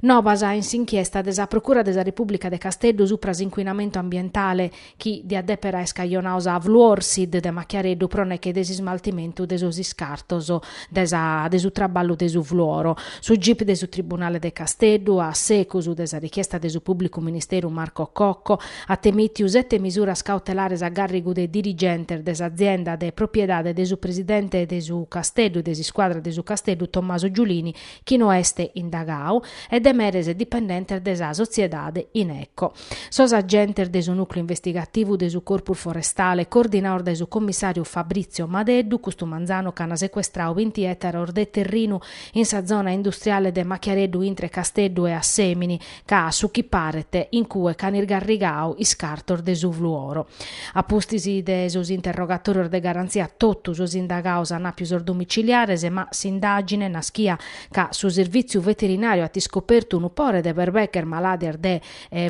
Nobas in s'inchiesta de sa Procura de sa Repùblica de Casteddu supra s'incuinamentu ambientale chi diat dèpere aer scajonadu sa Fluorsid de Machiareddu pro neche de s'ismaltimentu de sos iscartos de sa de su traballu de su fluoro. Su gip de su Tribunale de Casteddu, a secus de sa richiesta de su pùblicu ministeru Marco Cocco, at emìtiu sete misuras cautelares a gàrrigu de dirigentes de s'azienda de propriedade de su presidente de su Casteddu, de s'iscuadra de su Casteddu Tommaso Giulini, chi no est indagau, e de meres e dipendentes de sa sotziedade Ineco. Sos agentes de su nùcleu investigativu de su Corpus Forestale, coordinados dae su commissàriu Fabrizio Madeddu, custu manzanu ch'ant secuestradu binti ètaros de terrinu in sa zona industriale de Machiareddu intre Casteddu e Assèmini, ca a su chi paret in cue ch'an isgarrigadu iscartos de su fluoro. A pustis de sos interrogatorios de garantzia totu sos indagados an apiu sos domiciliares ma s'indagine naschia ca su Sirvìtziu Veterinàriu at iscopertu unu pore de berbeches malàdias de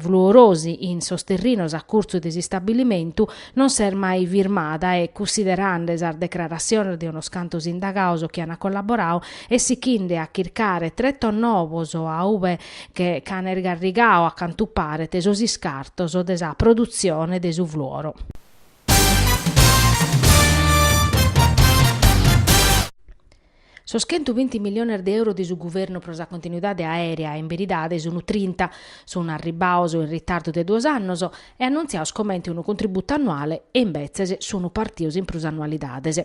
fluorosi in sos terrinos a curtzu de s'istabilimentu non s'est mai firmada e cussiderande sas declaratziones de unos cantos indagados chi an collaboradu e sichinde a chircare tretos novos a ue che ch'an irgarrigau a cantu paret sos iscartos de sa produtzione de su fluoro. Sos chentu binti milliones de euro de su guvernu pro sa continuidade aèrea in beridade sun trinta, sun arribbados in ritardu de duos annos e annuntziados comente unu contributu annuale e imbetzes sun partidos in prus annualidades.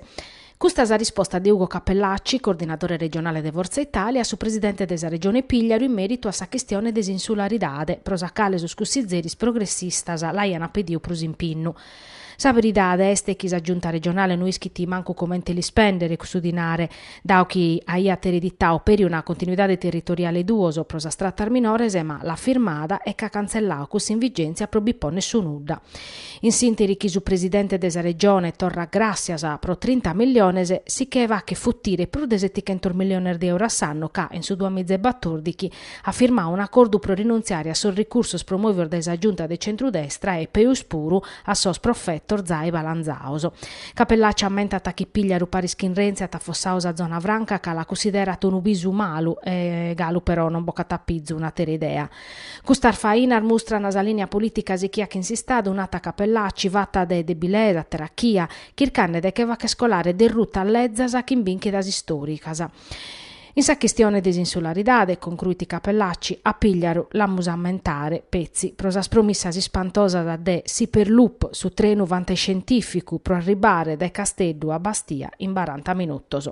Custa sa risposta de Ugo Cappellacci, coordinadore regionale de Forza Italia, a su presidente de sa Regione Pìgliaru in mèritu a sa chistione de s'insularidade, pro sa cale sos cussizeris progressistas l'aiant pediu prus impinnu. Sa beridade est chi sa Giunta regionale no ischit mancu comente l'ispèndere cussu dinare, dadu chi aiat ereditadu peri una continuidade territoriale duos pro sas tratas minores, ma l'at firmada e ch'at cantzelladu cuss'in vigèntzia pro bi pònnere su nudda. In s'interi chi su presidente de sa Regione torrat gràssias pro trinta milliones, si che faghet futire prus de setichentos milliones de euro a s'annu ca, in su duamiza e batòrdighi, at firmadu un'acordu pro rinuntziare a sos ricursos promòvidos dae sa Giunta de centrudestra e, peus puru, a sos profetos zai balanzados. Cappellacci ammentat chi Pìgliaru paris chin Renzi at afossadu sa zona franca ca la cussiderat unu bisu malu e galu però non bocat a pizu un'àtera idea. Custas fainas mustran sa lìnia polìtica sichia chin s'Istadu, nat Cappellacci, fata de debilesa, terachia, chircande de che fagher colare derrutas lezas chin bìnchidas istòricas. In sa chistione de s'insularidade, concruit Cappellacci, a Pìgliaru l'amus a ammentare, petzi, pro sas promissas ispantosas de s'Hyperloop, su trenu fantascientìficu pro arribare dae Casteddu a Bastia in baranta minutos.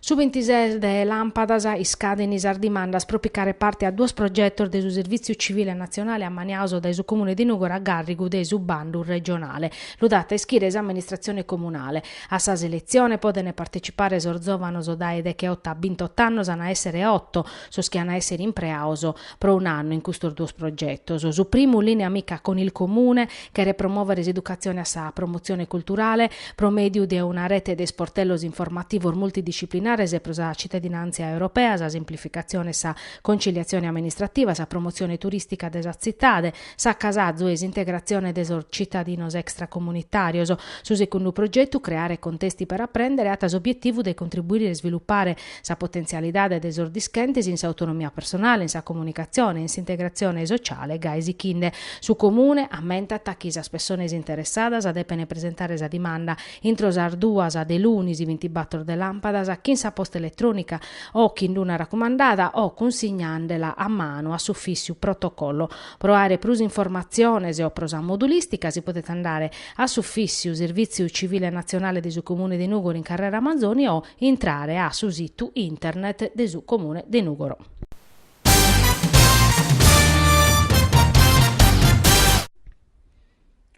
Su bintises de làmpadas iscaden sas dimandas pro picare parte a duos progetos de su Servìtziu Civile Natzionale ammaniados dae su Comune de Nùgoro a gàrrigu de su bandu regionale. Lu dat a ischire s'amministratzione comunale. A sa seletzione podent partecipare sos zòvanos dae decheoto a bintot'annos an a èssere oto. sos chi an a èssere impreados pro un'annu in custos duos progetos. Su primu, Lìnea amica con il Comune, cheret promòvere s'educatzione a sa promotzione culturale pro mèdiu de una rete de isportellos informativos multidisciplinares pro sa citadinàntzia europea, sa simplificatzione e sa contziliatzione amministrativa, sa promotzione turìstica de sa tzitade, s'acasazu e s'integratzione de sos citadinos extracomunitàrios. Su secundu progetu, Creare contesti per apprendere, at s'obietivu de contribuire a isvilupare Sa potentzialidade de sos dischentes in s'autonomia personale, in sa comunicatzione e in s'integratzione sociale gai sichinde. Su Comune ammentat chi sas pessones interessadas depene presentare sa dimanda intro sas duas de lunis bintibator de làmpadas chin sa posta eletrònica o chin una racumandada o cunsignandela a manu a s'ufìssiu protocollo. Pro àere prus informatziones o pro sa modulìstica si podet andare a s'ufìssiu Servìtziu Civile Natzionale de su Comune de Nùgoro in Carrera Manzoni o. Intrare a su situ internet de su Comune de Nùgoro.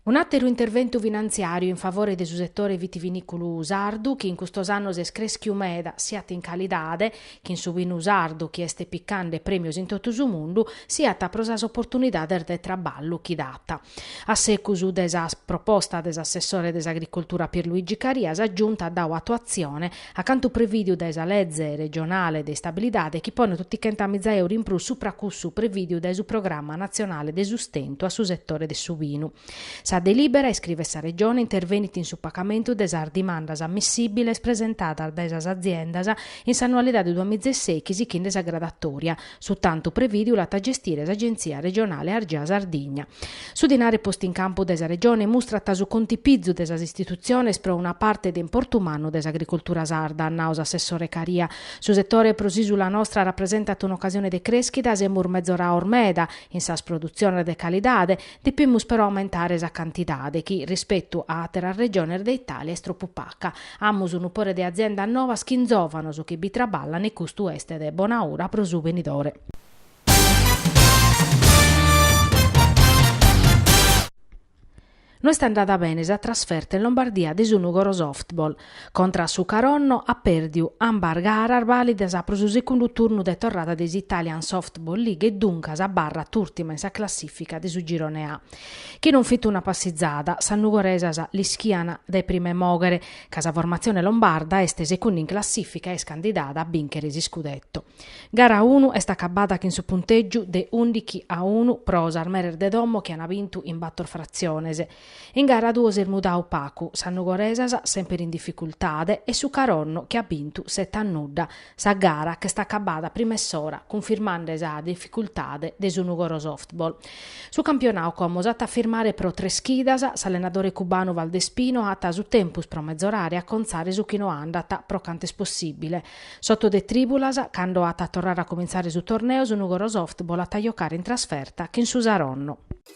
Un'àteru interventu finantziàriu in favore de su setore vitivinìculu sardu chi in custos annos est crèschiu meda siat in calidade chin su binu sardu chi est picande prèmios in totu su mundu siat pro sas oportunidades de traballu chi dat. A secus de sa proposta de s'assessore de s'Agricoltura Pierluigi Caria sa Giunta at dau atuatzione a cantu prevìdiu dae sa Leze regionale de istabilidade chi ponet otichentamiza euru in prus supra cussu prevìdiu dae su Programma natzionale de sustentu a su setore de su binu. Sa delìbera, iscrivet sa Regione, intervenit in su pagamentu de sas dimandas ammissìbiles presentadas dae sas aziendas in s'annualidade duamiza e sèichi sichinde sa gradatòria, Su tantu prevìdiu l'at a gestire s'Agenzia regionale Argea Sardigna. Su dinare postu in campu dae sa Regione mustrat su contipizu de sas istitutziones pro una parte de importu mannu de s'agricoltura sarda, at nau s'assessore Caria. Su setore pro s'ìsula nostra rapresentat un'ocasione de crèschida, semus mezorados meda in sas produtziones de calidade, Depimus però aumentare sa cantidade chi, rispetu a àteras regiones de Itàlia, est tropu paca. Amus unu pore de aziendas novas chin zòvanos chi bi traballan e custu est de bona ura pro su venidore. No est andada bene sa trasferta in Lombardia de su Nùgoro Softball. Contra a su Caronno at pèrdiu ambas garas bàlidas pro su segundu turnu de torrada de s'Italian Softball League e duncas abarrat ùrtima in sa classìfica de su Girone A. Chi non fit una passizada, sas nugoresas l'ischian dae prim'e mòghere ca sa formatzione lombarda est segundu in classìfica e est candidada a bìnchere s'iscudeto. Gara unu est acabada chin su puntègiu de ùndighi a unu pro sas meres de domo chi an bintu in bator fratziones, In gara duos est mudau pacu, sas nugoresas semper in dificultade e su Caronno chi at bintu sete a nudda sa gara ch'est acabada prima 'e s'ora cunfirmande sa dificultade de su Nùgoro Softball. Su campionau como s'at a firmare pro tres chidas, s'allenadore cubanu Valdespino at su tempus pro mezorare acontzare su chi no andat pro cant'est possìbile. S'oto de trìbulas, cando at a torrare a comintzare su torneo su Nùgoro Softball at a jocare in trasferta chin su Saronno.